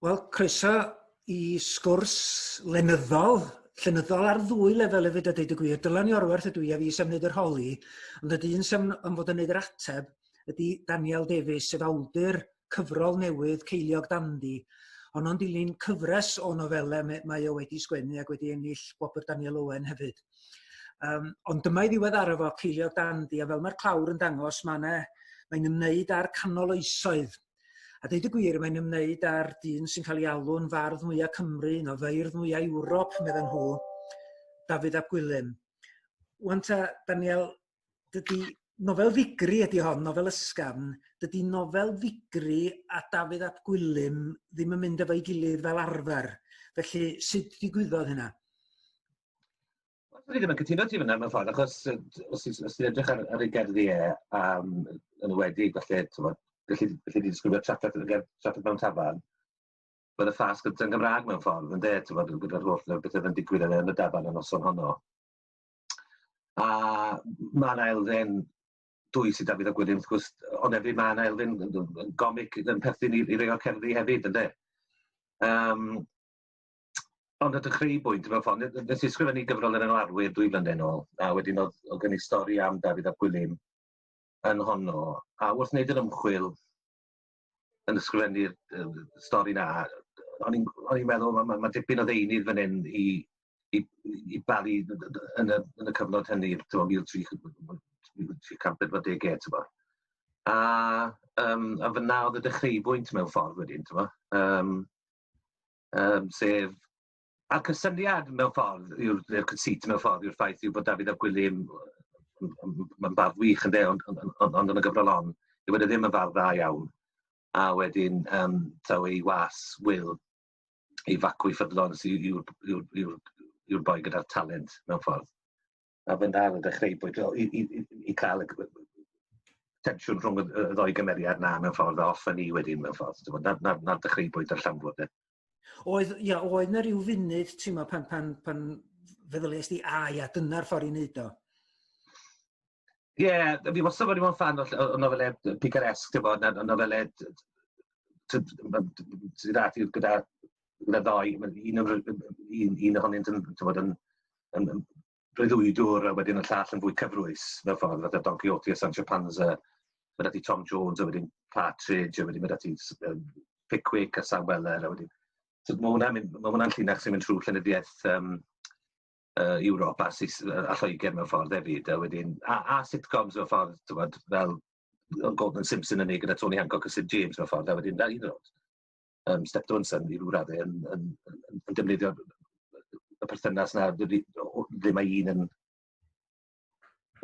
Wel, croeso i sgwrs lenyddol, llenyddol ar ddwy lefel hefyd a deud y gwir. Dylan ni orwerth ydw i a fi sy'n wneud yr holi, ond y dyn sy'n yn fod yn wneud yr ateb ydy Daniel Davies, sef awdur cyfrol newydd Ceiliog Dandi, ond o'n dilyn cyfres o nofelau mae o wedi sgwennu ac wedi ennill Gwobr Daniel Owen hefyd. Um, ond dyma i ddiwedd ar efo ceilio dandi, a fel mae'r clawr yn dangos, mae'n e, mae ymwneud â'r canol oesoedd. A dweud y gwir, mae'n ymwneud â'r dyn sy'n cael ei alw'n fardd mwyaf Cymru, un o feirdd mwyaf Ewrop, meddyn nhw, Dafydd ap Gwilym. Wan ta, Daniel, dydy nofel ddigri ydy hon, nofel ysgafn, dydy nofel ddigri a Dafydd ap Gwilym ddim yn mynd efo'i gilydd fel arfer. Felly, sut ddigwyddodd hynna? Dwi ddim yn cytuno ti fanna mewn ffordd, achos yy t- os ti os ti'n edrych ar ar ei gerddi e, yym, yn enwedig falle t'mod, galli di galli di disgrifio Trafferth yn y ger- Trafferth mewn tafarn, fel y ffas gynta yn Gymrag mewn ffordd ynde, t'mod gyda'r holl yy bethe fe'n digwydd yn y dafarn y noson honno. A m- ma' 'na elfen dwys i Dafydd ap Gwilym wrth gwrs, ond hefyd ma' 'na elfen yn yn yn gomig yn perthyn i i rei o'r cerddi hefyd ynde? Yym. Ond y dechreuwyd, mewn ffordd, n- nes i ysgrifennu gyfrol yn yr arwyr dwy flynedd nôl, a wedyn oedd, oedd gen i stori am Dafydd ap Gwilym yn honno, a wrth wneud yr ymchwil yn ysgrifennu'r uh, stori na, o'n i'n o'n i'n meddwl mae ma, ma dipyn o ddeunydd fan hyn i, i, i bari yn y, yn y cyfnod hynny, ti'n meddwl, 1340 e, ti'n A, um, a fyna oedd y dechreuwyd mewn ffordd wedyn, ti'n meddwl. Um, um, sef A'r cysyniad mewn ffordd yw'r yw'r conceit mewn ffordd yw'r ffaith yw bod Dafydd ap Gwilym mae'n bardd wych yn de, ond ond ond ond yn y gyfrol hon, dyw e ddim yn fardd dda iawn. A wedyn um, taw ei was Will ei facw i ffyddlon sydd yw'r yw'r yw'r yw'r boi gyda'r talent mewn ffordd. a mae'n dal yn dechreu bwyd, i, i, i, i cael y tensiwn rhwng y, y ddoi gymeriad na mewn ffordd off yn ni wedyn mewn ffordd. Dwi'n meddwl, na'r na, na, na bwyd ar llawn fod e. Oedd, ia, oedd na rhyw funud, ti'n meddwl, pan, pan, pan feddyliais di, a ia, dyna'r ffordd i wneud o. Ie, yeah, fi wastad wedi bod yn fan o, o nofeled picaresque, ti'n bod, o nofeled sydd ati gyda un a ddau, un, un, un, un ohonynt yn, tywod, yn, yn, yn breuddwydwr a wedyn y llall yn fwy cyfrwys mewn ffordd, fatha Don Quixote a Sancho Panza, mae dati Tom Jones a wedyn Partridge a wedyn mae dati um, Pickwick a Sam Weller a wedyn... So, mae hwnna'n mynd, mae hwnna'n llinach sy'n mynd trwy llenyddiaeth um, uh, Ewrop a, Sis, a Lloegr mewn ffordd hefyd, a wedyn, a, a sitcoms mewn ffordd, tywod, fel Golden Simpson yn ei gyda Tony Hancock a Sid James mewn ffordd, a wedyn, da, un o'r um, Step Donson i ryw raddau yn, yn, yn, yn defnyddio y perthynas na ble mae un yn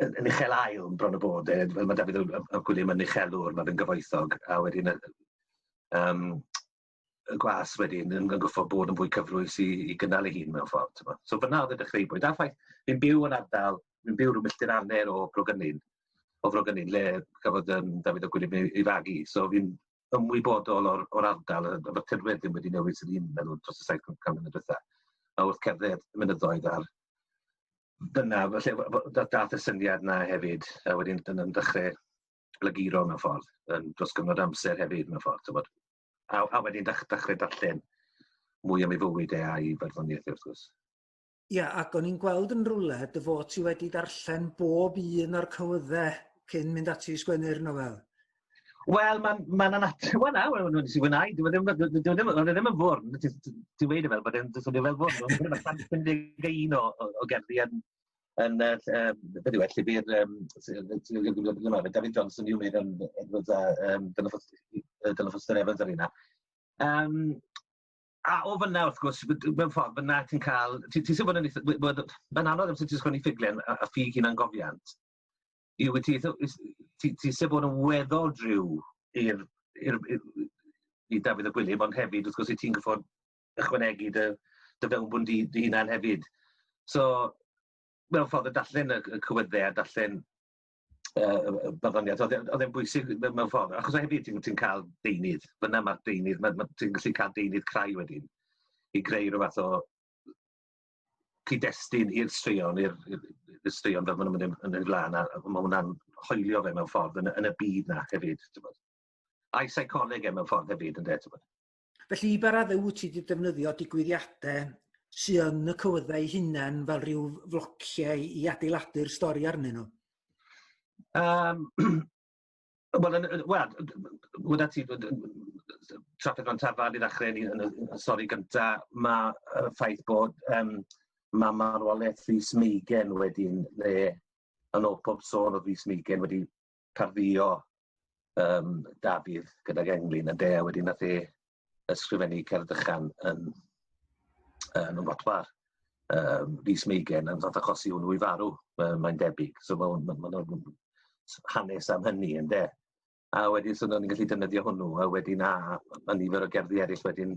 yn, yn uchel ail yn bron y bod, e, fel mae David yn gwylio yn uchelwr, mae fe'n gyfoethog, a wedyn y, um, y gwas wedyn yn gyffo bod yn fwy cyfrwys i, i gynnal ei hun mewn ffordd. So fyna oedd y dechreu bwyd. A ffaith, fi'n byw yn ardal, fi'n byw rhywbeth milltir anner o Brogynnin, o Frogynnin, le cafodd um, David o Gwilym ei, ei fagu. So fi'n ymwybodol o'r, or ardal, y bod tirwedd ddim wedi newid sy'n un meddwl dros y 700 mlynedd diwetha. A wrth cerdded mynyddoedd ar dyna, felly dath y syniad na hefyd, a wedyn dyna'n dechrau lyguro mewn ffordd, yn dros gyfnod amser hefyd mewn ffordd, tywod. A, a wedyn dechrau darllen mwy am ei fywyd e a'i farddoniaeth e, wrth gwrs. Ia, ac o'n i'n gweld yn rwle dy fod ti wedi darllen bob un o'r cywydde cyn mynd ati i sgwennu'r nofel. Wel, mae'n ma anateb yna, wel, mae'n wedi fwynhau, dwi'n ddim, dwi'n ddim, dwi'n ddim, ddim yn fwrn, dwi'n wedi fel bod e'n swnio fel fwrn, ond dwi'n allan 51 o, o, o gerddi yn, yn, beth yw e, lle bydd, David Johnson, you made an Edwards a Dylan Foster Evans ar yna. Um, A o fanna wrth gwrs, mewn ffordd, fanna ti'n cael... Ti'n ti bod yn eitha... Mae'n anodd amser ti'n sgwennu ffuglen a, a ffug hunan gofiant. I wyt ti, ti, ti sef bod yn weddol driw i'r, i'r, i Dafydd y Gwylyb, ond hefyd, wrth gwrs, i ti'n gyfford ychwanegu dy, dy fewnbwn di, di hunan hefyd. So, mewn ffordd, y darllen y, y cywyddau a darllen baddoniaeth, oedd e, oedd e'n bwysig mewn ffordd, achos hefyd ti'n ti cael deunydd, fyna mae'r deunydd, mae, mae, ti'n gallu cael deunydd crai wedyn i greu rhyw fath o cyd-destun i'r straeon, i'r straeon fel maen nhw'n mynd yn ei flaen, a mae hwnna'n hoelio fe mewn ffordd yn, yn y byd na hefyd. A'i seicoleg e mewn ffordd hefyd, yn dweud. Felly, i ba raddau wyt ti wedi defnyddio digwyddiadau sydd yn y cywyddau hunain fel rhyw flociau i adeiladu'r stori arnyn nhw? Um, Wel, wel, wna ti trafod o'n tafad i ddechrau ni yn y stori gyntaf, mae y ffaith bod um, mae marwolaeth Rhys Meigen wedyn, le yn ôl pob sôn o Rhys Meigen wedi tarddio um, Dafydd gydag Englyn yn de, a wedyn nath e ysgrifennu cerdd ychan yn, yn y Watbar. Um, Rhys Meigen, a nath achosi hwnnw i farw, um, mae'n debyg. So mae'n ma, ma, ma, hanes am hynny yn de. A wedyn, so ni'n gallu defnyddio hwnnw, a wedyn a, a nifer o gerddi eraill wedyn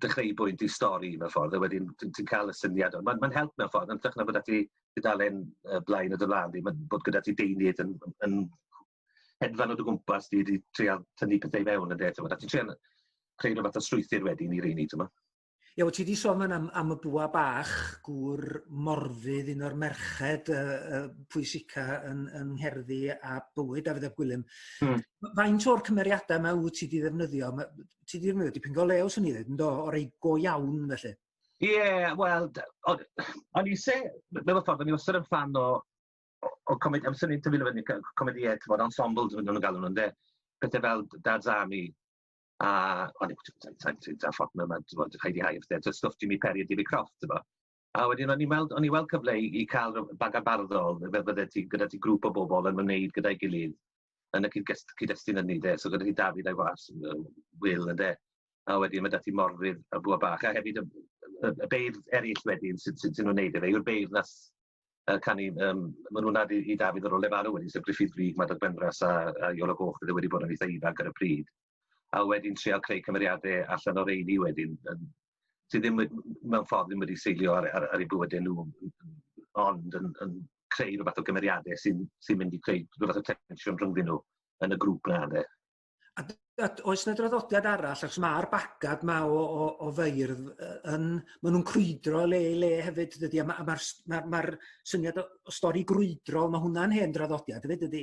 dechreu bwyd i stori mewn ffordd, a wedyn ti'n ti cael y syniad. Mae'n ma help mewn ffordd, yn ffech na bod ati dudalen uh, blaen y dyflan, di, mae'n bod gyda ti deunydd yn, yn, yn hedfan o dy gwmpas, di wedi treol tynnu pethau i mewn yn dweud, ti'n ti treol creu rhywbeth fath o strwythyr wedyn i reini, ti'n Ie, wyt ti wedi sôn fan am, am y bwa bach, gŵr morfydd, un o'r merched uh, uh, pwysica yn, yn ngerddi a bywyd Dafydd ap Gwilym. Hmm. Faint o'r cymeriadau yma wyt ti wedi ddefnyddio? ti ddim yn dipyn go lew swn i ddweud, ynddo, o'r ei go iawn felly. Ie, yeah, wel, o'n i'n se, mewn ffordd, o'n i'n wastad yn fan o, o, o comedi, am sy'n ni'n tyfu fyny, comediau, ti'n bod, ensemble, dwi'n mynd nhw'n galw nhw'n de, pethau fel Dad's Army, a, o'n i'n gwybod, ti'n da ffot mewn, ti'n bod, Heidi Hive, ti'n stwff Jimmy Perry a David Croft, ti'n bod. A wedyn o'n i'n weld, o'n i'n weld cyfle i, i cael bagan barddol, fe fydde ti gyda ti grŵp o bobl yn ymwneud gyda'i gilydd yn y cyd-gest- cyd-destun ynni de. So gyda ti David a'i was, Will ynde. A wedyn mae 'da ti Morfydd a Bwa Bach a hefyd y, y, y beirdd eraill wedyn sy'n sy, sy, sy nhw'n neud e. Fe yw'r beirdd nas uh, canu, um, maen nhw'n nad i, i David ar ôl lefarw wedyn, sef Griffith Brig, Madog Benfras a, a Iolo Goch, bydde wedi bod yn eitha ifanc ar y pryd. a wedyn trio creu cymeriade allan o'r rheini wedyn yn sy ddim wed- m- mewn ffordd ddim wedi seilio ar ar ar eu bywyde nw ond yn yn creu rhyw fath o gymeriade sy'n sy'n mynd i creu rhyw fath o tensiwn rhyngddyn nhw yn y grŵp 'na ynde. A d- a d- oes 'na draddodiad arall achos ma'r bagad 'ma o o o feirdd yy yn ma' nw'n crwydro le i le hefyd dydi a ma' a ma'r s- ma' ma'r syniad o o stori grwydrol ma' hwnna'n hen draddodiad hefyd dydi?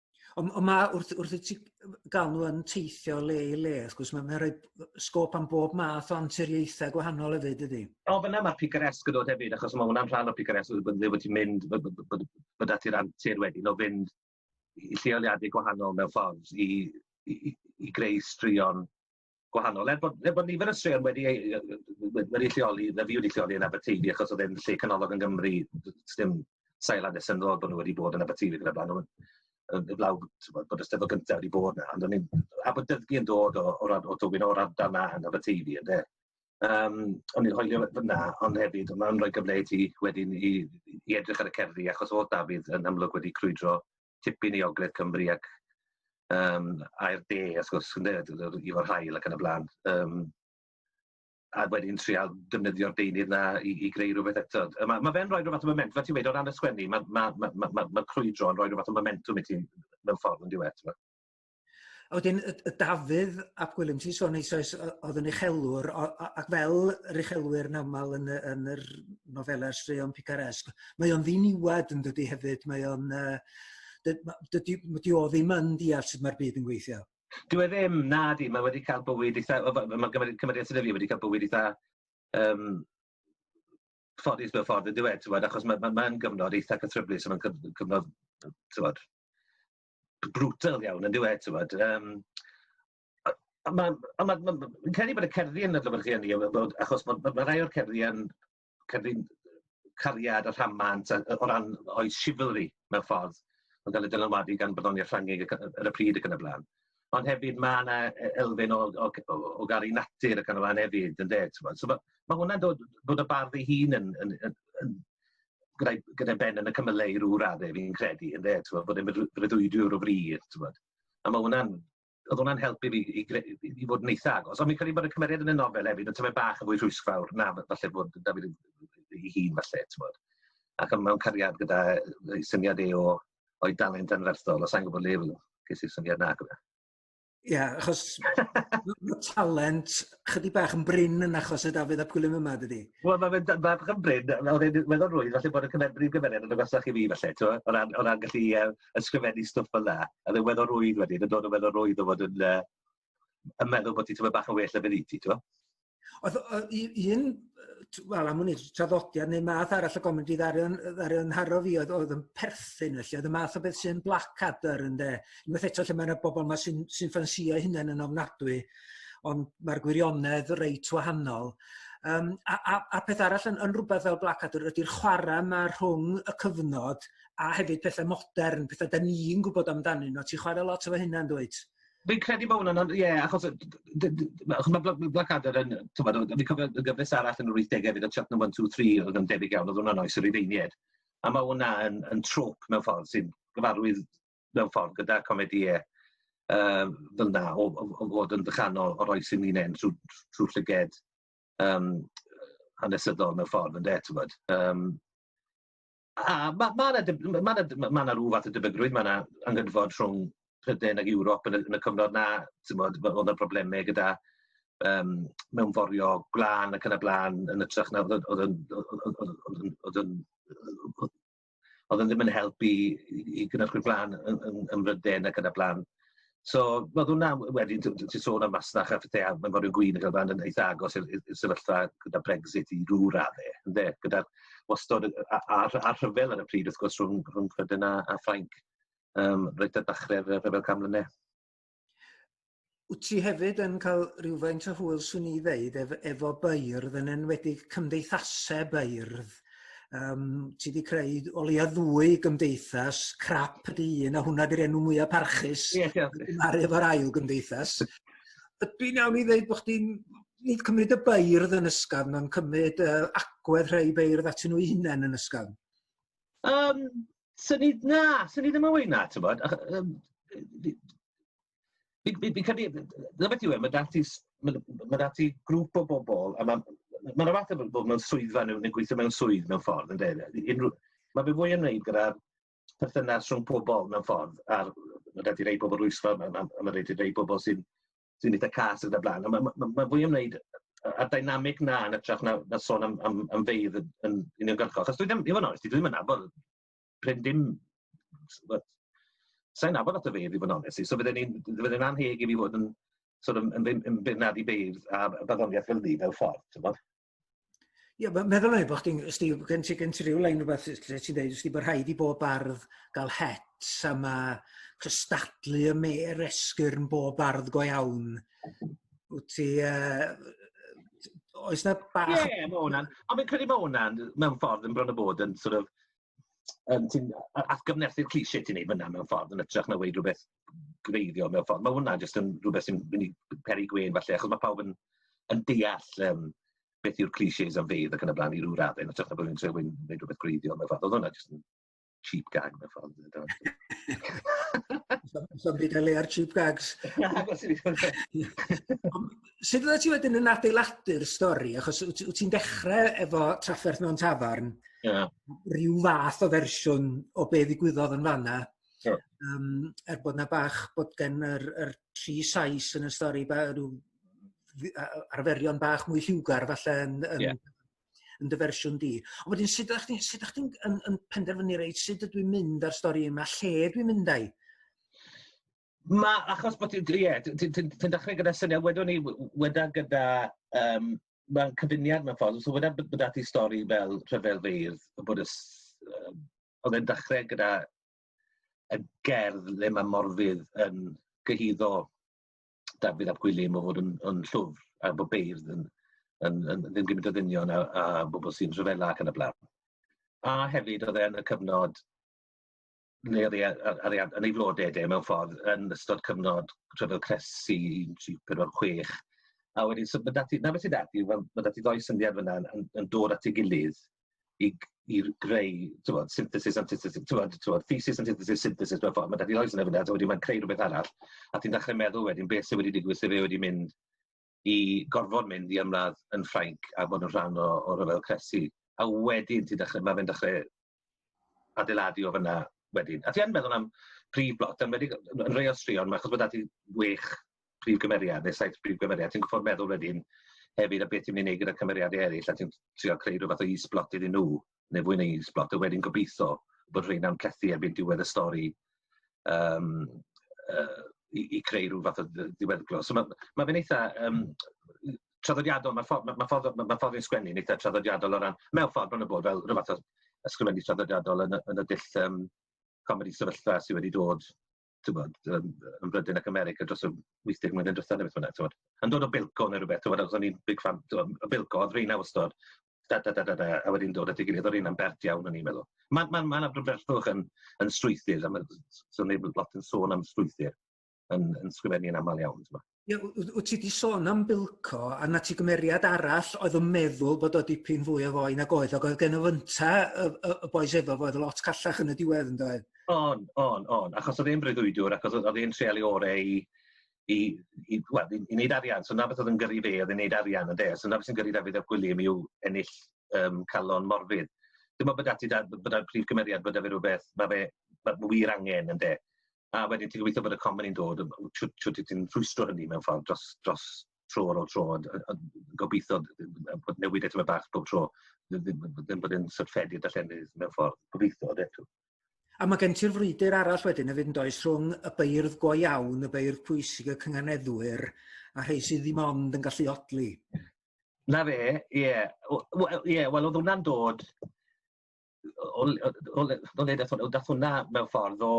Ond on mae wrth, wrth i ti gael nhw yn teithio le i le, wrth gwrs, mae'n rhoi sgop am bob math o anturiaethau gwahanol hefyd, ydy? O, fyna mae'r pigar esgyd o hefyd, achos mae hwnna'n rhan o'r pigar esgyd, bod wedi mynd, bod ati'r antur wedyn, o fynd i lleoliadau gwahanol mewn ffordd i, i, i, i greu straeon gwahanol, er bod, er bod nifer y straeon wedi ei, wedi lleoli, na fi wedi lleoli yn Aberteifi, achos oedd e'n lle canolog yn Gymru, dim sail adnes yn ddod bod nhw wedi bod yn Aberteifi gyda blaen nhw. Y blaw bod y steddfod gyntaf wedi bod na, ond o'n i'n, a bod dydgu yn dod o, o, o, o dywyn o'r ardal na yn Aberteifi, ynddo. Um, o'n i'n hoelio fyna, ond hefyd, ond mae'n rhoi gyfle i ti wedyn i, i edrych ar y cerddi, achos oedd Dafydd yn amlwg wedi crwydro tipyn i Ogledd Cymru ac um, a'r de, os gwrs, i o'r hael ac yn y blaen. Um, a wedyn trial defnyddio'r deunydd na i, i greu rhywbeth eto. Mae ma fe'n rhoi rhywbeth o momentum, fe ti'n meddwl, o ran y sgwennu, mae ma, ma, ma, ma, ma crwydro yn rhoi rhywbeth o momentum i ti mewn ffordd yn diwedd. A wedyn y, y Dafydd ap Gwilym sy'n sôn eisoes oedd yn uchelwr ac fel yr uchelwyr yn aml yn, yn yr nofelau straeon picaresg, mae o'n ddiniwad yn dydy hefyd, mae o'n... dydy, dydy o ddim yn deall sut mae'r byd yn gweithio. Dwi e ddim, na di, mae wedi cael bywyd eitha, mae'n cymryd, cymryd at fi, wedi cael bywyd eitha um, ffodus mewn ffordd yn dweud, achos mae'n ma, ma, ma gyfnod eitha cythryblus, mae'n cyfnod, ti'n brutal iawn, yn diwedd, ti'n bod. Um, ond mae'n ma, ma, ma, ma, credu bod y cerddi yn adlywyrchu hynny, achos mae ma, ma rhai o'r cerddi yn cerddi cariad a rhamant o ran oes chivalry mewn ffordd yn cael ei dylanwadu gan Barddoniaeth Ffrangeg ar y pryd ac yn y blaen. Ond hefyd mae yna e, elfen o, o, o, o garu natur ac yn y blaen hefyd, yn dweud. So mae ma hwnna'n dod, dod o bardd ei hun yn, yn, yn, yn gyda'i gyda ben yn y cymylau i ryw raddau fi'n credu ynde t'mod bod e'n breuddwydwyr o frid t'mod a mae hwnna'n oedd hwnna'n helpu fi i, gre- i, i fod yn eitha agos ond fi'n credu bod y cymeriad yn y nofel hefyd yn tymed bach yn fwy rhwysfawr na falle bod David ei hun falle t'mod ac mewn cariad gyda syniad ei o o'i dalent anferthol a sa'n gwybod le ges i'r syniad na gyda. Ie, yeah, achos mae talent chydig bach yn bryn yn achos y Dafydd ap Gwilym yma, dydy? Wel, mae fe'n bach yn bryn, oedd e'n meddwl rwy'n falle bod yn cymedru'n gymeriad yn agosach i fi, falle, to, o ran, o ran gallu uh, ysgrifennu stwff fel la. A dde'n weddol rwy'n wedyn, yn dod yn weddol rwy'n o fod yn, uh, yn meddwl bod ti'n tyfu bach yn well na fe ni ti, to. Oedd un, wel am hwnni, traddodiad neu math arall o gomedi ddaru yn haro fi oedd, oedd yn perthyn felly, oedd y math o beth sy'n black adder yn de. Unwaith eto lle mae yna bobl yma sy'n sy ffansio hynny'n yn ofnadwy, ond mae'r gwirionedd reit wahanol. Um, a, a, a peth arall yn, yn rhywbeth fel Black Adder ydy'r chwarae yma rhwng y cyfnod a hefyd pethau modern, pethau da ni'n gwybod amdanyn nhw. Ti'n chwarae lot efo hynna yn dweud? Fi'n credu bod hwnna'n... Ie, achos mae Blackadder yn... Tybed, fi'n cofio y gyfres arall yn yr 80au hefyd o Cheltenham 1, 2, 3 oedd yn debyg iawn, oedd hwnna'n oes y Rufeiniaid. A mae hwnna yn, yn trwp mewn ffordd sy'n gyfarwydd mewn ffordd gyda comedïau um, fel na o, o, o fod yn ddychanol o'r oes sy'n ni'n enn trwy, trwy llyged um, hanesyddol mewn ffordd, yn det, ti'n bod. Um, A mae ma yna ma, ma, ma, ma rhyw fath o debygrwydd, mae yna anghydfod rhwng Prydain ac Ewrop yn y, yn y cyfnod na, oedd yna broblemau gyda um, mewnforio gwlân ac yn y blaen yn y trach na oedd yn oedd yn ddim yn helpu i, i gynorthwy'r blaen yn, yn, yn Brydain ac yn y blaen. So, mae hwnna wedyn, ti'n sôn am masnach a phethau, mae'n fod yn gwyn yn cael fan yn eitha agos i'r sefyllfa gyda Brexit i rhyw radde, ynddo, gyda wastod a'r rhyfel ar y pryd, wrth gwrs, rhwng, rhwng Prydain a, a Ffrainc, um, reit ar ddechrau'r rhyfel canlynau. Wyt ti hefyd yn cael rhywfaint o hwyl swn i ddeud ef, efo beirdd, yn enwedig cymdeithasau beirdd, Um, ti wedi creu o leia ddwy gymdeithas, crap ydy un, a hwnna di'r enw mwyaf parchus. Ie, ie. Dwi'n ar efo'r ail gymdeithas. Dwi'n iawn i ddeud bod chdi'n nid cymryd y beirdd yn ysgafn, mae'n cymryd uh, agwedd rhai beirdd at nhw hunain yn ysgafn. Um, sy'n ni, na, sy'n ni ddim yn wyna, ti'n bod. Um, Fi'n fi, fi credu, dyna beth yw e, mae dati, mae, mae dati grŵp o bobl, a mae'n ma, ma fath o bod mewn swyddfa nhw, neu gweithio mewn swydd mewn ffordd, yn dweud. Mae fe fwy yn wneud gyda perthynas rhwng pobl mewn ffordd, a'r mae wedi rhai pobl rwysfa, mae, mae, mae wedi rhai pobl sy'n sy eitha cas yn y blaen. Mae ma, ma, ma fwy ymwneud a'r dynamic na yn ytrach na, na sôn am, am, am feidd yn, yn uniongyrchol. Chos dwi ddim, i fod yn onest, dwi ddim yn nabod prin dim t'mod sai'n nabod lot o feirdd i fod yn onest i so fydden i'n fydden i'n annheg i fi fod yn sort of yn ddim yn beirniadu beirdd a barddoniaeth fel ni mewn ffordd t'mod? Ie yeah, meddwl o'n i bod chdi'n ysdi gen ti gen ti ryw lein rhywbeth lle ti'n deud ysdi bod rhaid i bob bardd gael het a mae cystadlu y me yr esgyrn bob bardd go iawn. Wyt ti uh, oes na bach... Ie, yeah, mae hwnna'n... Ond fi'n credu mae hwnna'n mewn ffordd yn bron o bod yn sort of um, ti'n atgyfnerthu'r cliché ti'n ei fyna mewn ffordd yn ytrach na weud rhywbeth greiddiol mewn ffordd. Mae hwnna jyst yn rhywbeth sy'n mynd i peri gwein falle, achos mae pawb yn, yn deall um, beth yw'r clichés am feidd ac yn y blaen i ryw raddau, yn ytrach na bod yn treu wneud rhywbeth greiddiol mewn ffordd. Oedd hwnna jyst yn cheap gag mewn ffordd. So'n byd e le'r cheap gags. sut oeddet ti wedyn yn adeiladu'r stori? Achos wyt ti'n dechrau efo trafferth mewn tafarn, yeah. rhyw fath o fersiwn o be ddigwyddodd yn fanna, yeah. um, er bod na bach bod gen yr, yr tri sais yn y stori, ba, rhyw, arferion bach mwy lliwgar falle yn, yn, yeah. yn dy fersiwn di. Ond wedyn, sut ydych chi'n sut chi yn, yn penderfynu reit sut ydw i'n mynd ar stori yma, lle dwi'n mynd a'i? Mae, achos bod ti'n, ie, ti'n dechrau gyda syniad, wedwn ni, weda gyda, um, mae'n cyfuniad mewn ffordd, so weda bod ati stori fel rhyfel feirdd, bod y, um, oedd e'n dechrau gyda y gerdd le mae Morfydd yn gyhyddo Dafydd ap Gwilym o fod yn, yn llwfr, a bod beirdd yn, yn, yn, yn ddim gymaint o ddynion a, a bobl sy'n rhyfela ac yn y blaen. A hefyd oedd e'n y cyfnod neu ar ei, ar, ar ei, yn ei flodau de, mewn ffordd, yn ystod cyfnod rhyfel cresu 1346. A wedyn, so mae dati, na beth sydd dati, mae, mae dati ddoi syniad fyna yn, yn, yn dod at ei gilydd i, i greu, ti'n bod, synthesis, antithesis, ti'n bod, ti'n bod, thesis, antithesis, synthesis, mewn ffordd. Mae dati ddoi syniad fyna, a wedyn mae'n creu rhywbeth arall. A ti'n dechrau meddwl wedyn, beth sydd wedi digwydd, sef e wedi mynd i gorfod mynd i ymladd yn Ffrainc a bod yn rhan o, o rhyfel Cressy. A wedyn, ti'n dechrau, mae fe'n dechrau adeiladu o fyna wedyn. A ti yn meddwl am prif blot, yn wedi yn rhai o straeon, mae achos bod ati wech prif gymeriad neu saith prif gymeriad, ti'n gwybod meddwl wedyn hefyd a beth ti'n mynd i wneud gyda cymeriadau eraill a ti'n trio creu rhywbeth o is blot iddyn nhw. neu fwy neu un sblot, a wedyn gobeithio bod rheina'n plethu erbyn diwedd y stori um, uh, i, i creu rhyw fath o ddiweddglo. So mae ma fe'n eitha um, traddodiadol, mae ffordd, ma, ma ffordd, ma, ma ffordd i'n sgwennu yn eitha traddodiadol o ran, mewn ffordd mae'n y bod fel rhywbeth o ysgrifennu traddodiadol yn, yn y dull um, comedi sefyllfa sydd wedi dod tywod, um, yn Brydain ac America dros y 80 mlynedd dros neu beth bynnag, tywod. Yn dod o Bilco neu rhywbeth, tywod, achos o'n i'n big fan, tywod, y Bilco, oedd Reina wastod, da, da, da, da, da, a wedyn dod at ei gilydd, oedd Reina'n bert iawn o'n i'n meddwl. Mae'n ma, ma, ma brydferthwch yn, yn strwythyr, so neb lot yn sôn am strwythyr yn, yn sgrifennu yn aml iawn, tywod. wyt ti wedi sôn am Bilco a na ti gymeriad arall oedd yn meddwl bod o dipyn fwy o foi nag oedd ac oedd gen o fynta y, y, y boes efo fo oedd lot callach yn y diwedd yn doedd? On, on, on, achos oedd e'n breuddwydwr ac oedd e'n treol i orau i, i, i, well, i, i wneud arian, so na beth oedd yn gyrru fe oedd e'n wneud arian yn de, so na beth sy'n gyrru Dafydd Ap Gwilym yw ennill um, calon morfydd. Dyma bod ati da, bod prif gymeriad bod da fe rhywbeth, mae fe, mae wir angen yn de. A wedyn ti'n gobeithio bod y comin yn dod, shwt wyt ti'n rhwystro hynny mewn ffordd dros, dros tro ar ôl tro, gobeithio bod newid eto bach bob tro, ddim bod yn syrffedu darllenydd mewn ffordd, gobeithio, eto. A mae gen ti'r frwydr arall wedyn hefyd yn does rhwng y beirdd go iawn, y beirdd pwysig, y cynganeddwyr, a rhai sydd ddim ond yn gallu odli. Na fe, ie. Yeah. Ie, yeah, wel oedd hwnna'n dod o, o, o, dath hwnna mewn ffordd o...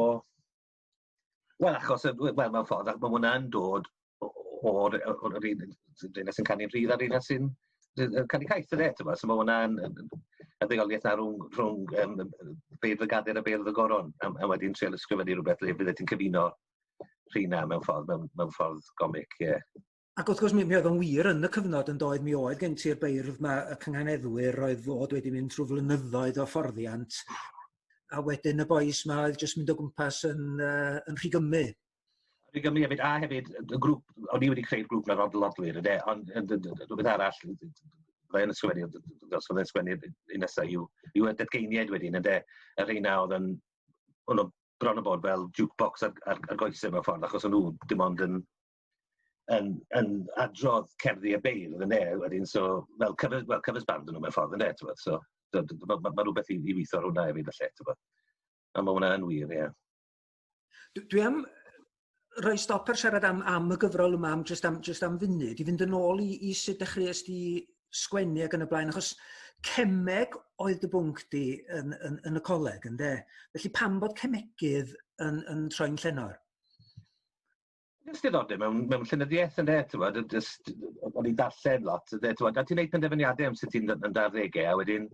Wel, achos, wel, mewn ffordd, mae hwnna'n dod o'r un rhywun sy'n canu'n rhydd a'r un sy'n canu caeth yna, ti'n so mae hwnna'n y ddeoliaeth na rhwng, rhwng um, beirdd y gader a beirdd y goron, a, a wedyn treol ysgrifennu rhywbeth le bydde ti'n cyfuno rhywun mewn ffordd, mewn, mewn ffordd gomic, ie. Yeah. ac wrth gwrs mi, mi oedd o'n wir yn y cyfnod yn doedd mi oedd gen ti'r beirdd mae y cynghaneddwyr roedd fod wedi mynd trwy flynyddoedd o fforddiant a wedyn y boes ma oedd jyst mynd o gwmpas yn, uh, yn rhigymu. Rhigymu hefyd, a hefyd y grŵp, o'n i wedi creu'r grŵp na Rod Lodwyr, yde, ond rhywbeth arall, mae yn ysgrifennu, os oedd yn ysgrifennu un nesau yw, yw y dedgeiniaid wedyn, yde, y rheina oedd yn, o'n bron o bod fel jukebox ar, ar, ar goesau mewn ffordd, achos o'n nhw dim ond yn yn, yn adrodd cerddi y beirdd, yn e, wedyn, so, fel covers, well, covers band yn nhw mewn ffordd, yn e, ti'n so, so mae ma, ma rhywbeth i, i weithio ar hwnna hefyd, felly, ti'n bod. A mae hwnna yn wir, ie. Yeah. Dwi am rhoi stop ar siarad am, am y gyfrol yma, am, just, am, just am funud, i fynd yn ôl i, i sut dechreuais di sgwennu ac yn y blaen, achos cemeg oedd dy bwnc di yn, yn, yn y coleg, ynddo? Felly pam bod cemegydd yn, yn troi'n llenor? Jyst diddordeb mewn, mewn llenyddiaeth ynde, tywed, jyst o'n i'n darllen lot, ynde, tywed, a ti'n gwneud penderfyniadau am sut ti'n yn dy arddegau, a wedyn,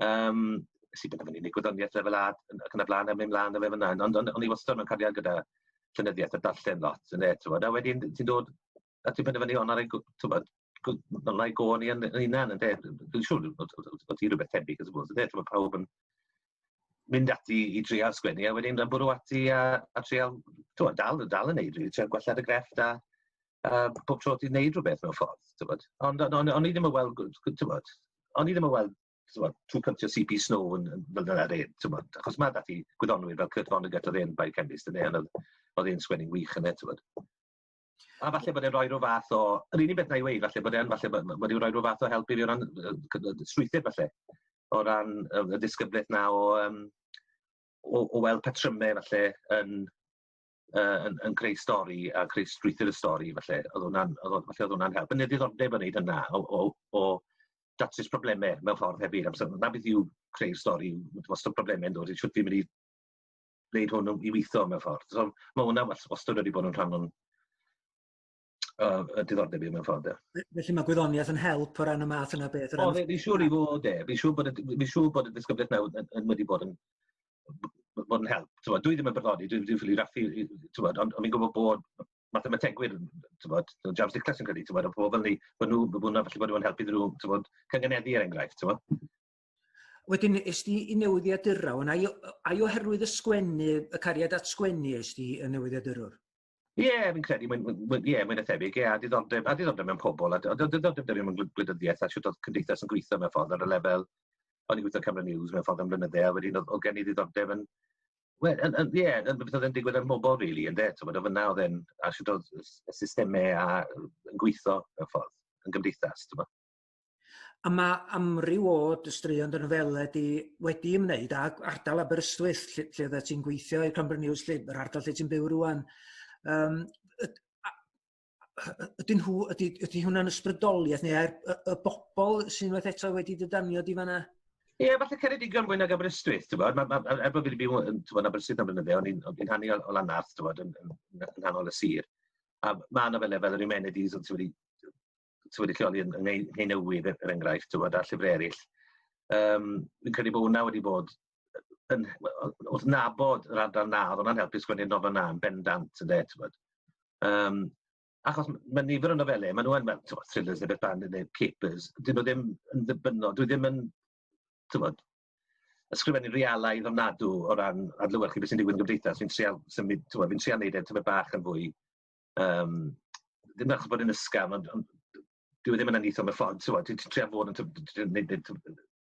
um, sy'n penderfynu neu gwyddoniaeth lefel A ac yn y blaen, a mynd mlaen a fe fyna, ond o'n i wastad mewn cariad gyda llenyddiaeth a darllen lot, ynde, tywed, a wedyn ti'n dod, a ti'n penderfynu hon ar ein, tywed, like go o'n i yn hunan yn dweud, dwi'n siŵr bod ti rhywbeth tebyg, I suppose, ynde? Mae pawb yn mynd ati i treol sgwennu, a wedyn yn bwrw ati a, a treol, ti'n dal, dal yn neud, treol gwella dy grefft a, a pob tro ti'n neud rhywbeth mewn ffordd, ti'n bod. Ond on, on, on i ddim yn weld, ti'n bod, on i ddim yn weld, ti'n bod, trwy cyntio CP Snow yn, yn fel yna'r un, ti'n bod, achos mae dati gwyddonwyr fel Curt Vonnegut oedd e'n biochemist, yn ei, oedd e'n sgwennu'n wych yn e, ti'n bod. A falle bod e'n rhoi rhyw fath o... Yr unig beth na i weid, falle bod e'n falle bod e'n rhoi rhyw fath o help i fi o ran strwythyr falle. O ran y disgyblaeth na o, um, o, o weld patrymau falle yn, uh, yn, yn creu stori a creu strwythyr y stori falle. Oedd hwnna'n hwnna help. Yn y ddiddordeb yn neud hynna o, o, o datrys problemau mewn ffordd hefyd. Amser, na beth yw creu'r stori, wastad problemau yn dod i siwt fi'n mynd i wneud hwn i weithio mewn ffordd. So, mae hwnna wastad wedi bod yn rhan o'n uh, y diddordeb i mewn ffordd. E. Felly mae gwyddoniaeth yn help o ran y math yna beth? O, fi'n siŵr i fod e. Fi'n siŵr bod y, fi siŵr bod y disgybliaeth mewn yn, yn wedi bod yn bod yn help. Tewa, dwi ddim yn byddodi, dwi'n dwi ffili raffu, ond on fi'n gwybod bod mathemategwyr, tywod, James Nicholas yn credu, tywod, a pobl fel ni, bod nhw, bod nhw'n falle bod nhw'n helpu ddyn nhw, tywod, cynganeddu er enghraifft, tywod. Wedyn es di i newyddiadurau, ond ai, ai oherwydd y sgwennu, y cariad at sgwennu es di y newyddiadurwr? Ie, yeah, fi'n credu, mae'n mwy, yeah, mwy na thebyg, ie, yeah, a diddordeb, a diddordeb mewn pobl, a diddordeb ddim yn gwleidyddiaeth, a siwt oedd cymdeithas yn gweithio mewn ffordd ar y lefel, o'n i'n gweithio Cymru News mewn ffordd am blynydde, a wedyn oedd, oedd gen i ddiddordeb yn, wel, yn, yn, ie, yn beth oedd yn digwydd ar mobl, really, yn de, ti'n bod, o fyna oedd e'n, a siwt oedd y systemau a, yn gweithio mewn ffordd, yn gymdeithas, ti'n bod. A mae amryw o dystraeon dyn nofele di wedi ymwneud ag ardal Aberystwyth lle, lle oeddet ti'n gweithio i'r Cymru News lle, yr ardal lle ti'n byw rwan. Um, ydyn nhw, ydy, ydy hwnna'n ysbrydoliaeth neu er, y, y bobl sy'n waith eto wedi dydanio di fanna? Ie, yeah, falle Ceredigion fwy nag Aberystwyth, ti'n bod. Er bod fi wedi byw yn Aberystwyth am blynydde, o'n i'n hannu o, o Lanarth, ti'n bod, yn, yn, yn, yn, y sir. A mae yna fel lefel yr Eumenides, ond ti'n wedi sydd wedi lleoli yn, yng Nghenewydd, er, er enghraifft, tywed, a llyfrau eraill. Um, fi'n credu bod hwnna wedi bod yn, wrth nabod yr adran na, oedd hwnna'n helpu sgwennu'r nofel na yn bendant, ynddo, tywed. Um, achos mae nifer o nofelau, maen nhw yn, well, tywed, thrillers neu beth ban, neu capers, dyn nhw ddim yn ddibynnol, dwi ddim yn, tywed, ysgrifennu realaidd ofnadw o ran adlywyrchu beth sy'n digwydd yn gymdeithas. Fi'n trial, fi'n trial neud e tyfu bach yn fwy Um, ddim achos bod yn ysgam, ond, ond dwi e ddim yn anitho mewn ffordd. So, ti'n trio bod yn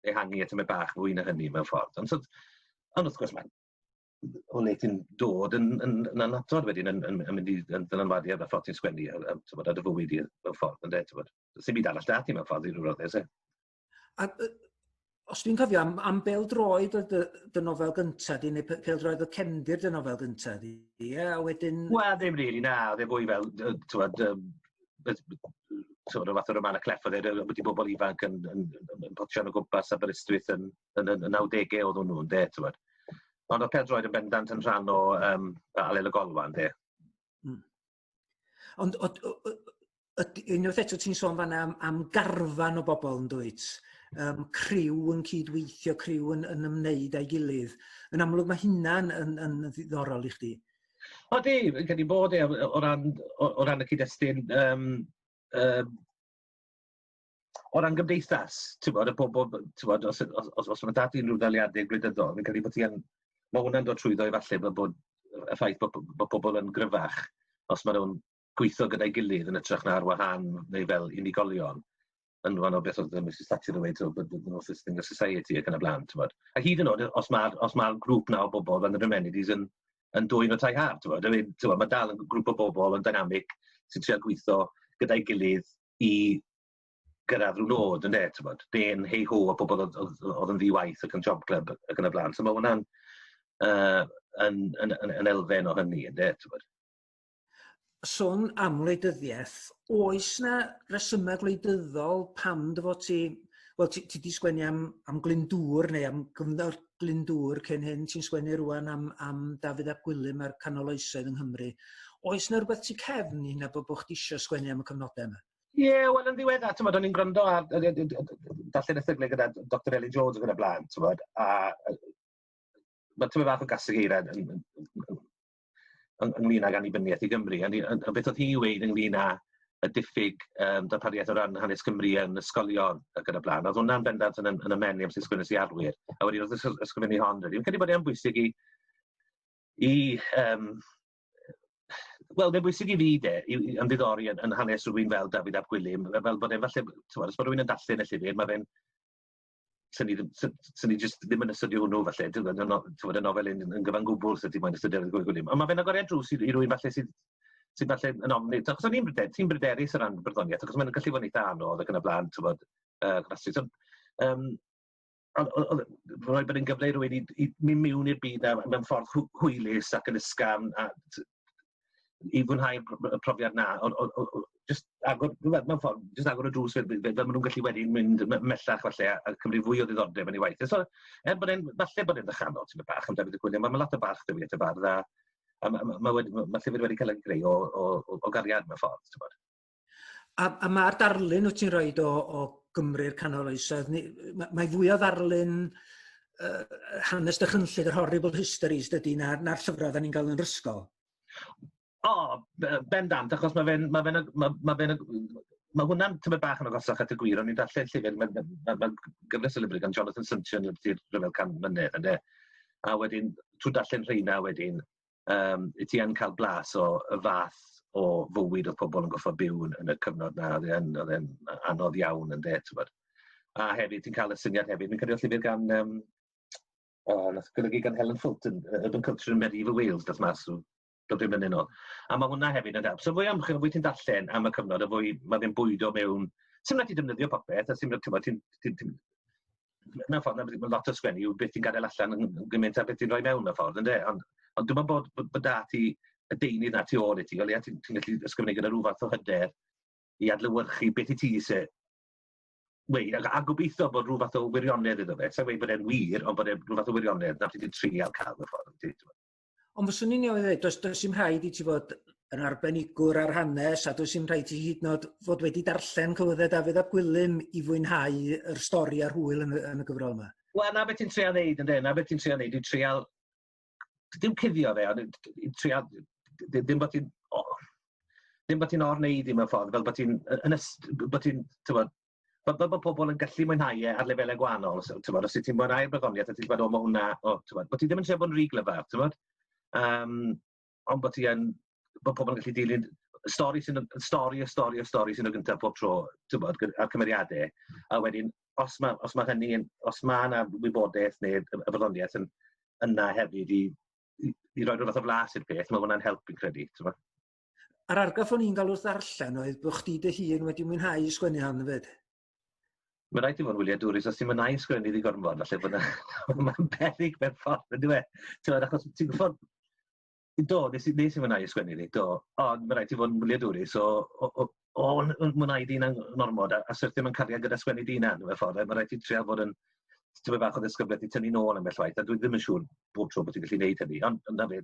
ehangu at y bach fwy na hynny mewn ffordd. Ond, so, ond wrth gwrs, mae o le ti'n dod yn, yn, yn anatod wedyn yn, yn, yn mynd i yn ddylanwadu ar y ffordd ti'n sgwennu a, a, a dy fywyd i mewn ffordd, yn dweud, ti'n bod. Sy'n byd arall da ti mewn ffordd i rywun oedd, e? A, os dwi'n cofio, am, am bel droed oedd dy, dy nofel gyntaf di, neu bel droed y cefndir dy nofel gyntaf di, ie, yeah, a wedyn... Wel, ddim rili, really, na, oedd e fwy fel, tywed, tywed, o fath o roman y clef, oedd e wedi bobl ifanc yn, yn, yn, yn, yn potion o gwmpas Aberystwyth yn, yn, yn, yn 90au oedd hwnnw, yn de, tywed. Ond oedd pêl droed yn bendant yn rhan o um, Alel y Golwan, de. Mm. Ond o, o, o, o, unwaith eto ti'n sôn fan am, am garfan o bobl yn dwyt, um, criw yn cydweithio, criw yn, yn ymwneud â'i gilydd. Yn amlwg mae hynna'n yn, yn ddiddorol i chdi. O di, yn cael ei bod e, o, ran, o, o ran y cyd-destun, um, um, o ran gymdeithas, ti'n bod, y bobl, ti'n bod, os, os, os, os mae dati unrhyw ddaliadau gwleidyddol, fi'n credu bod ti yn, mae hwnna'n dod trwyddo i falle bod, bod y ffaith bod, bod pobl yn gryfach os maen nhw'n gweithio gyda'i gilydd yn ytrach na ar wahân neu fel unigolion yn rhan o beth oedd yn Mrs Thatcher yn dweud, bod yn oes ysting y society ac yn y blaen, ti'n bod. A hyd yn oed, os mae'r ma, os ma grŵp na o bobl fel yr amenities yn, yn dwy'n o tai haf, ti'n bod. Mae dal yn grŵp o bobl yn dynamic sy'n trio gweithio gyda'i gilydd i gyrraedd rhyw nod ynde t'mod be'n hei ho a pobl oedd oedd oedd yn ddi-waith ac yn job club ac yn y blaen so ma' hwnna'n yy yn yn yn yn elfen o hynny ynde t'mod. Sôn am wleidyddiaeth, oes 'na resymau gwleidyddol pam dy fod ti wel ti ti 'di sgwennu am am Glyndŵr neu am gyfnod Glyndŵr cyn hyn sy'n sgwennu rwan am am Dafydd ap Gwilym a'r canol oesoedd yng Nghymru. Oes 'na rwbeth tu cefn hynna bod bod chdi isio sgwennu am y cyfnodau yma? Ie, yeah, wel yn ddiweddar, ti'n bod, o'n i'n gwrando ar darllen erthyglau gyda Dr Elin Jones ac yn y blaen, ti'n bod, a mae tyfu fath o gasglu yn, yn, yn, yn, yn, ynglyn ag annibyniaeth i Gymru. Yn, yn, yn beth oedd hi i weid ynglyn â y diffyg um, darpariaeth o ran hanes Cymru yn ysgolion ac yn y blaen. Oedd hwnna'n bendant yn, yn y menu am sy'n sgwynnes i arwyr. A wedyn oedd ysgrifennu hon, rydyn. Fi'n credu bod e'n bwysig i, i um, Wel, mae'n bwysig i fi de, i, i ymddiddori yn, yn hanes rhywun fel David Ab Gwilym, fel bod e'n falle, ti'n os bod rhywun yn darllen y llyfr, mae fe'n sy'n ni, sy'n ni just ddim yn ystydio hwnnw falle, ti'n gwybod, y nofel yn, yn gyfan gwbl sy'n ti moyn ystydio ar y gwybod gwybod. Ond mae fe'n agoriad drws i, i rwy'n falle sy'n sy'n falle yn omni. Achos o'n i'n bryder, ti'n bryderus o ran bryddoniaeth, achos mae'n gallu fod yn eitha anodd ac yn y blaen, ti'n gwybod, uh, classes. Ond, um, roi bod yn gyfle i rwy'n i, i, i mewn i'r byd na mewn ffordd hwylus ac yn ysgafn a i fwynhau y profiad na, ond o, o, o, just agor, mewn ffordd, just agor y drws fel, fel, maen nhw'n gallu wedyn mynd mellach falle a cymryd fwy o ddiddordeb yn ei waith. So, er bod e'n, falle bod e'n ddychanol, ti'n bach am David y Gwynedd, mae lot o barch dyfu at y bardd a, a mae ma, ma, ma, ma llyfr wedi cael ei greu o, o, o, o gariad mewn ffordd, ti'n bod. A, a mae'r darlun wyt ti'n rhoi o, o Gymru'r canol oesoedd, mae fwy o ddarlun uh, hanes dychynllid, yr horrible histories dydy, na'r na llyfrau da ni'n gael yn yr ysgol. O, oh, bendant, achos mae fe'n ma fe ma, ma fe Mae hwnna'n tymor bach yn agosach at y gwir, ond ni'n darllen llyfr, mae'n ma, ma, ma gyfres o lyfrau gan Jonathan Simpson i'r Rhyfel Can Mynydd, ynddo. A wedyn, trwy darllen rheina wedyn, um, ti yn cael blas o y fath o fywyd oedd pobl yn goffa byw yn, yn y cyfnod na, oedd e'n, oedd e'n anodd iawn yn det, ti'n A hefyd, ti'n cael y syniad hefyd, yn cael ei llyfr gan, um, o, nath golygu gan Helen Fulton, Urban Culture in Medieval Wales, dath mas o dod i'n mynd yn ôl. A mae hwnna hefyd yn dda. So fwy amchwil, fwy ti'n darllen am y cyfnod, a fwy mae ddim bwydo mewn... Sym na ti defnyddio popeth, a sym na ti'n... mewn ffordd, na, mae lot o sgwennu yw beth ti'n gadael allan yn gymaint a beth ti'n rhoi mewn mewn ffordd, ynddo? Ond, ond dwi'n bod, bod, bod da ti y deunydd na tu ôl i ti, o leia ti'n ti gallu ysgrifennu gyda rhyw fath o hyder i adlywyrchu beth i ti se weid, a, a gobeithio bod rhyw fath o wirionedd iddo fe. Sa'n weid bod e'n wir, ond bod e'n rhyw fath o wirionedd, na ti wedi trial cael y ffordd. Ond fyswn i'n iawn i ddweud, does, does dim rhaid i ti fod yn arbenigwr ar hanes a does dim rhaid i hyd yn oed fod wedi darllen Cywyddau Dafydd a Gwilym i fwynhau yr stori a'r hwyl yn y, yn y gyfrol yma. Wel, na beth ti'n trio wneud yn dweud, na beth ti'n trio wneud, dwi'n trial... Dim cuddio fe, ond dwi'n trial... Dim bod ti'n... Dim bod ti'n or-wneud i mewn ffordd, fel bod ti'n... Yn ystod... Bod ti'n... Fel fel bod pobl yn gallu mwynhau e ar lefelau gwahanol, so, tywod, os ti'n mwynhau'r barddoniaeth, a ti'n gwybod, o, mae hwnna, o, tywod, bod ti ddim yn siarad bod yn rhy glyfar, tywod, um, ond bod ti yn, bod pobl yn gallu dilyn stori sy'n stori a stori a stori sy'n o gyntaf pob tro, tywod, a'r cymeriadau, a wedyn, os mae, os mae hynny, os mae yna wybodaeth neu y barddoniaeth yn, yna hefyd i, i, i roi rhywbeth o flas i'r peth, mae hwnna'n help yn credu, tywod. Yr argraff o'n i'n gael wrth ddarllen oedd bod chdi dy hun wedi mwynhau sgwennu hon yn fyd. Mae'n rhaid i fod yn wyliadwrus os ti'n mwynhau sgwennu ddi gormod, falle bod yna berig mewn ffordd, yn dweud. Ti'n achos ti'n gwybod, do, nes i, nes i mwynhau sgwennu ddi, do, ond mae'n rhaid i fod yn wyliadwrus o, o, o, o mwynhau dyn yn ormod, a, a syrthio mewn cariad gyda sgwennu dyn yn y ffordd, mae'n rhaid i treol fod yn tyfu bach o ddisgyblaeth i tynnu nôl am bell waith, a dwi ddim yn siŵr bob tro bod ti'n gallu gwneud hynny, ond yna fe,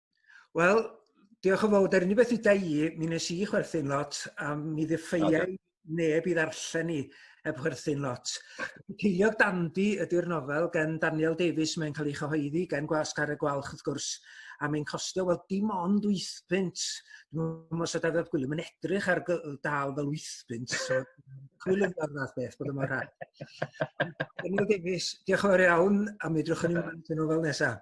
Wel, diolch yn fawr. Yr unig beth uda i, mi nes i chwerthin lot a mi ddiffeia i neb i ddarllen i heb chwerthin lot. Ceiliog Dandi ydy'r nofel gen Daniel Davies, mae'n cael ei chyhoeddi gen Gwas Car y Gwalch wrth gwrs, a mae'n costio, wel, dim ond wythpynt. Dwi'n os yda fe Gwilym yn edrych ar dal fel wythpynt, so Gwilym fel fath beth bod yma rhaid. Daniel Davies, diolch yn fawr iawn, a mi drwch yn i'n nofel nesaf.